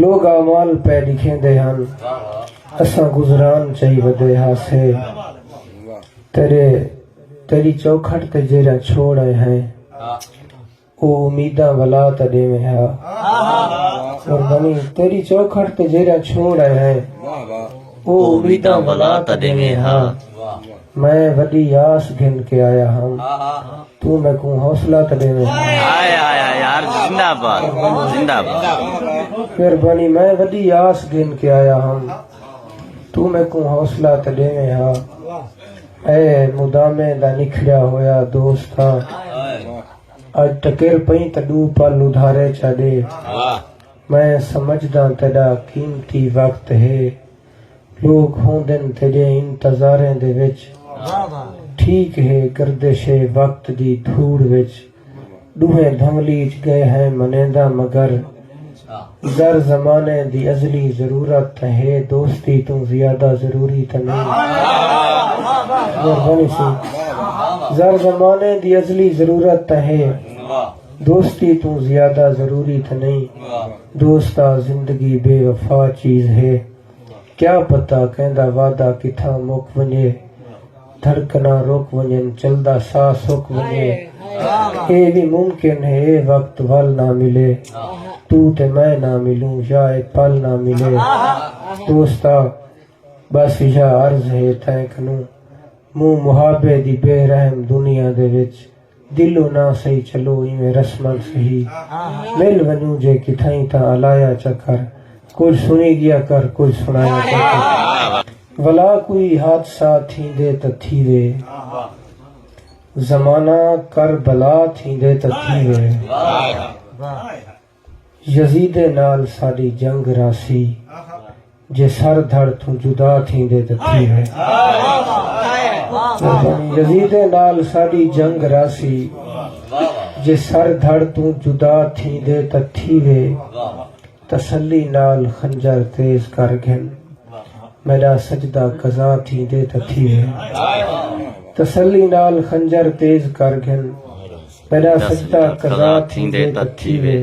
لوگ اعمال پئے ݙکھیندے ہن اساں گزران چائی ودے ہاسے تیرے تیری چوکھٹ تے جیرھا چھوڑ آئے ہیں او امیداں ولا تا ݙیویں ہا قربانی تیری چوکھٹ تے جیرھا چھوڑ آئے ہیں او امیداں ولا تا ݙیویں ہا میں وݙی آس گھن کے آیا ہم توں میکوں حوصلہ تے ݙیویں پھر بنی میں وݙی آس گھن کے آیا ہم توں میکوں حوصلہ تے ݙیویں ہا اے مدامے دا نکھڑیا ہویا دوستا اج ٹکر پئیں تاں ݙو پل ادھارے چا ݙے میں سمجھداں تیݙا قیمتی وقت ہے لوک ہوندن تیݙے انتظاریں دے وچ ٹھیک ہے گردش وقت دی دھوڑ وچ ݙوہیں دھملیج ڳئے ہیں منینداں مگر گر زمانے دی ازلی ضرورت تاں ہے دوستی توں زیادہ ضروری تاں نئیں مہربانی سئیں گر زمانے دی ازلی ضرورت تاں ہے دوستی توں زیادہ ضروری تھ نئیں دوست آ زندگی بے وفا چیز ہے کیا پتہ کیندا وعدہ کتھاں مک ونجے دھڑکناں رک ونجن چلدا ساہ سک ونجے اے وی ممکن ہے اے وقت ول نہ ملے توں تے میں نہ ملوں یا اے پل نہ ملے دوست آ بس ایہا عرض ہے تیں کنوں موں محابے دی بے رحم دنیا دے وچ دلو نہ سہی چلو ایویں رسمن سہی مل ونجوں جے کتھائیں تاں الایا چا کر کجھ سنی گیا کر کجھ سنایا چا کر ولا کوئی حادثہ تھیندے تاں تھیوے زمانہ کر بلا تھیندے تاں تھیوے یزیدیں نال ساݙی جنگ رہسی جے سر دھڑ توں جدا تھیندے تاں تھی وے۔ یزیدیں نال ساݙی جنگ رہسی جے سر دھڑ توں جدا تھیندے تاں تھی وے۔ تسلی نال خنجر تیز کر گھن میݙا سجدہ قضا تھیندے تاں تھی وے۔ تسلی نال خنجر تیز کر گھن۔ تیݙا سجدہ قضا تھیندے تاں تھیوے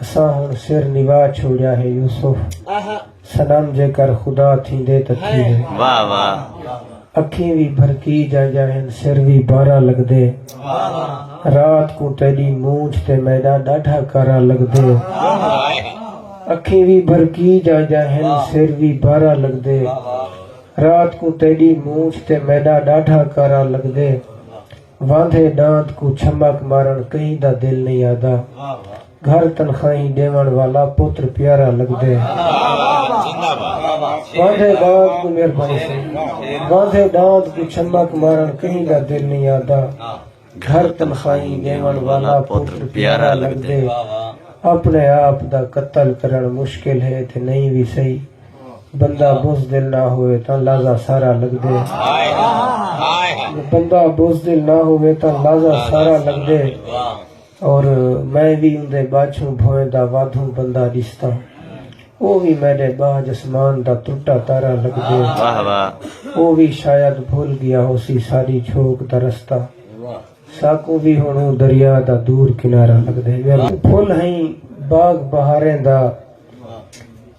اساں ہݨ سر نوا چھوڑیا ہے یوسف صنم جے کر خدا تھیندے تاں تھیوے واہ واہ اکھیں وی بھرکی جائیاں ہن سر وی بارا لگدے رات کوں تیڈی مونجھ تے میڈا ڈاڈھا کارا لگدے اکھیں وی بھرکی جائیاں ہن سر وی بارا لگدے رات کوں تیڈی مونجھ تے میڈا ڈاڈھا کارا لگدے واندھے ݙاند کوں چھمک مارݨ کہیں دا دل نئیں آہدا گھر تنخواہیں ݙیوݨ والا پتر پیارا لڳدے واندھے ݙاند کوں مہربانی سائیں واندھے ݙاند کوں چھمک مارݨ کہیں دا دل نئیں آہدا گھر تنخواہیں ݙیوݨ والا پتر پیارا لڳدے اپݨے آپ دا قتل کرݨ مشکل ہے تے نئیں وی سہی بندہ بزدل نہ ہوئے تاں لازا سارا لگ دے بندہ بزدل نہ ہوئے تاں لازا سارا لگ دے اور میں بھی ان دے باچھوں بھوئیں دا وادھوں بندہ ڈستا وہ بھی میرے باج اسمان دا ترٹا تارا لگ دے وہ بھی شاید بھول گیا ہو سی ساری چھوک دا رستہ ساکوں بھی ہنوں دریا دا دور کنارا لگ دے پھول ہیں باغ بہاریں دا